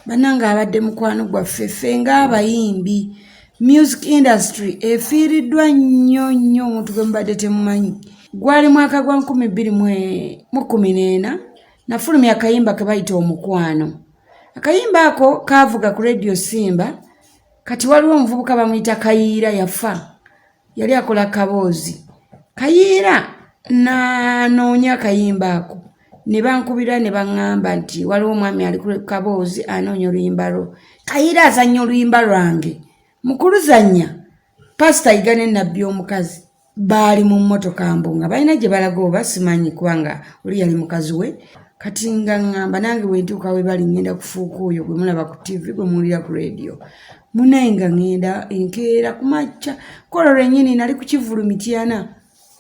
Banange abadde mukwano gwaffe ffe nga abayimbi music industry efiiriddwa nnyo nnyo omuntu gwe mubadde temumanyi gwali mwaka gwa nkumi bbiri mu kumi n'ena nafulumya akayimba ke bayita omukwano akayimba ako kaavuga ku rediyo simba kati waliwo omuvubuka bamuyita kayiira yafa yali akola kaboozi kayiira nanoonya akayimba ako ne bankubira ne baŋŋamba nti waliwo omwami ali kaboozi anoonya oluyimba lwo kayiira azannya oluyimba lwange mukuluzannya pasita yiga ne nabbi omukazi baali mu mmotoka mbu nga balina gye balaga oba simanyi kubanga oli yali mukazi we kati nga ŋŋamba nange bwentuuka we bali ŋŋenda kufuuka oyo gwe mulaba ku tivi gwe muwulira ku leediyo munaye nga ŋŋenda enkeera ku makya kolo lwennyini nali ku kivulu mityana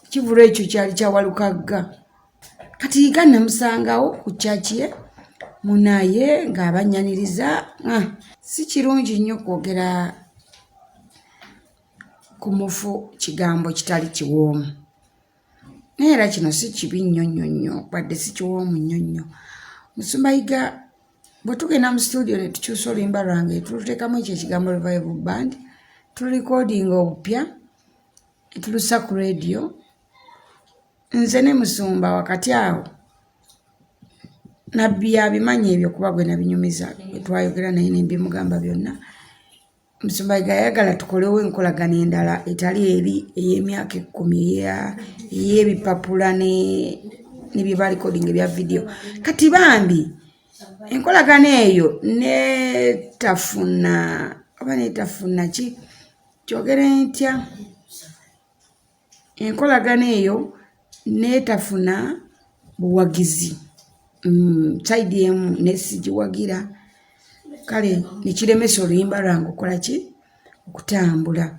ekivulu ekyo kyali kyawalukagga kati yiga namusangawo ku kyakye munaye ng'abanyaniriza ah, si kirungi nnyo kwogera ku mufu kigambo kitali kiwoomu naye era kino si kibi nnyo nnyo nnyo wadde si kiwoomu nnyo nnyo musumba yiga bwe tugenda mu situdio ne tukyusa oluyimba lwange tuluteekamu ekyo ekigambo revival band tululikodinga obupya etulusa ku radio nze ne musumba wakati awo nabbi yabimanyi ebyo kuba gwe nabinyumiza etwayogera naye nembimugamba byonna Omusumba Yiga yayagala tukolewo enkolagana endala etali eri ey'emyaka ekkumi ey'ebipapula ne bye balikodinga ebya vidiyo kati bambi enkolagana eyo netafuna oba netafuna ki kyogere ntya enkolagana eyo netafuna buwagizi mm, saidi emu nesigiwagira kale nekiremesa oluyimba lwange okukola ki okutambula